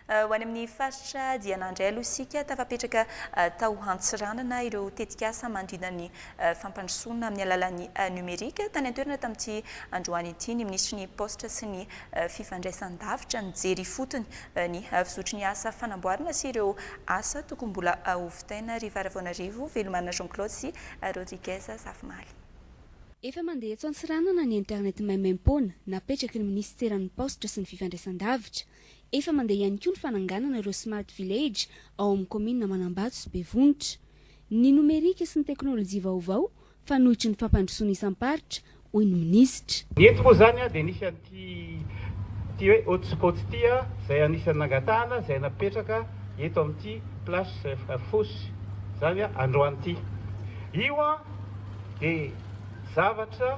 Ho any amin'ny faritra Diana indray aloha isika. Tafapetraka tao Antsiranana ireo tetikasa manodidina ny fampandrosoana amin'ny alalan'ny nomerika. Tany an-toerana tamin'ity androany ity ny minisitry ny Paositra sy ny fifandraisan-davitra. Nijery ifotony ny fizotry ny asa fanamboarana sy ireo asa tokony mbola ho vitaina Riva Ravoanarivo, Velomana Jean Claude sy Rodriguez Zafimaly. Efa mandeha eto Antsiranana ny internet maimaimpoana napetraky ny minisiteran'ny Paositra sy ny fifandraisandavitra. Efa mandeha ihany koa ny fananganana ireo Smart Village ao amin'ny kaominina Manambato sy Bevonitra. Ny nomerika sy ny teknolojia vaovao fanohitry ny fampandrosoana isam-paritra, hoy ny minisitra. Ny eto moa izany dia nisy an'ity ity hoe hotspot ity izay anisan'ny nangatahana izay napetraka eto amin'ity place Fosse izany androany ity. Io dia zavatra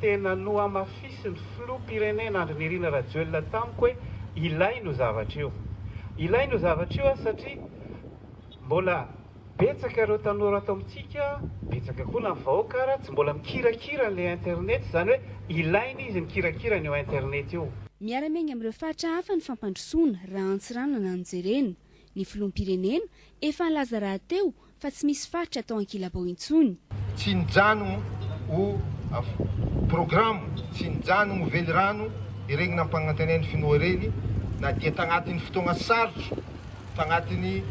tena nohamafisin'ny filoham-pirenena Andry Nirina Rajoelina tamiko hoe ilaina io zavatra io. Ilaina io zavatra io satria mbola. Betsaka ireo tanora ato amintsika, betsaka koa na vahoaka ara tsy mbola mikirakira an'ilay internet, izany hoe ilaina izy mikirakira an'io internet io. Miara-miainga amin'ireo faritra hafa ny fampandrosoana raha Antsiranana no jerena. Ny filoham-pirenena efa nilaza rahateo fa tsy misy faritra atao ankilabao intsony. Tsy nijanogno ho programo, tsy nijanogno ho velirano iregny nampagnantenain'ny finoa iregny na dia tagnatin'ny fotoagna sarotro. tagnatin'ny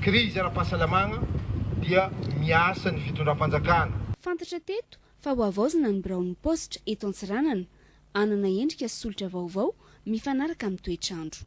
krizy ara-pahasalamagna dia miasa ny fitondram-panjakana. Fantatra teto fa ho havaozina ny biraon'ny paositra eto Antsiranana, hanana endrika solitra vaovao mifanaraka amin'ny toetr'andro.